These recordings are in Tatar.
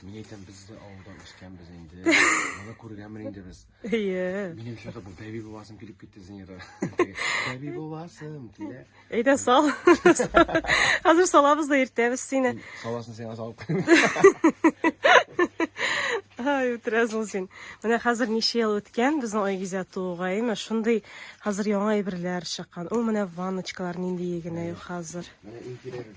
Мин әйтәм, без дә авылда үскәнбез инде. Моны күргәнбез инде без. Әйе. Минем шәһәрдә бу бәби буласым килеп китте Зинера. Бәби буласым килә. Әйдә сал. Хәзер салабыз да иртәбез сине. Саласын сиңа салып. Ай, үтерәсең син. Менә хәзер ничә ел үткән безнең Айгизә тууга, әйме? Шундый хәзер яңа әйберләр чыккан. Ул менә ванночкалар нинди генә юк хәзер. Менә иң кирәге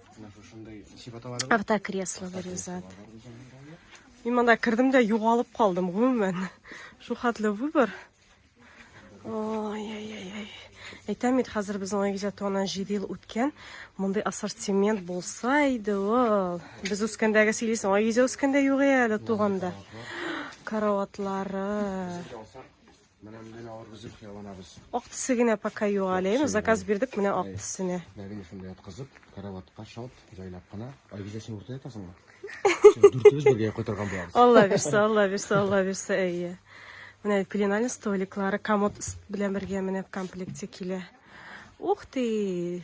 Автокресло вырезат. Мин монда кердем дә югалып калдым, гомумән. Шул хәтле выбор. Ой-ой-ой. Әйтәм бит, хәзер безнең Айгизатуаннан 7 ел үткән. Мондый ассортимент булса иде ул. Без үскәндәге сөйлисең, Айгизә үскәндә юк әле туганда. Караватлары. Менә менә алар безнең хыяланабыз. Ак төсе генә пока юк әле. Ин заказ бирдек менә ак төсенә. Мәгәр шунда яткызып, караватка шалт, җайлап кына. Айгүзә син урта ятасыңмы? Дүртебез бергә кайтарган булабыз. Алла бирсә, Алла бирсә, Алла бирсә, әйе. Менә пеленальный столиклары комод белән бергә менә в комплекте килә. Ух ты!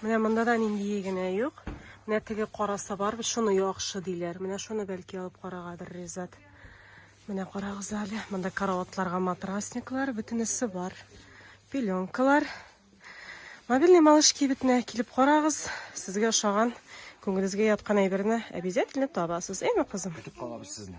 Менә монда да нинди генә юк. Менә теге караса бар, шуны яхшы диләр. Менә шуны бәлки алып карагадыр Ризат. Менә карагыз әле. Монда караватларга матрасниклар, бөтенесе бар. Пеленкалар. Мобильный малыш кибетенә килеп карагыз. Сезгә ошаган, күңелегезгә яткан әйберне обязательно табасыз. Әйме, кызым? Көтеп калабыз сезне.